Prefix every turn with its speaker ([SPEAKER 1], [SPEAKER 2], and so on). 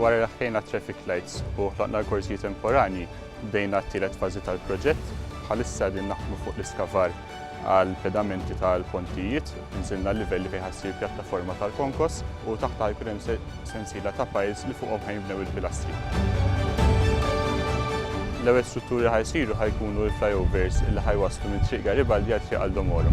[SPEAKER 1] Wara li ħlejna t-traffic lights u ħloqna l-korżji temporanji, bdejna t-tielet fażi tal-proġett. Bħalissa qegħdin naħdmu fuq l-iskavar għal pedamenti tal-pontijiet, inżilna l-livelli fejn ħassir pjattaforma tal-konkos u taħtha jkun hemm sensiela ta' piles li fuqhom ħajnbnew il-pilastri. L-ewwel strutturi ħajsiru ħajkunu l-flyovers li ħajwasslu minn Triq Garibaldi għal Triq Aldo Moro.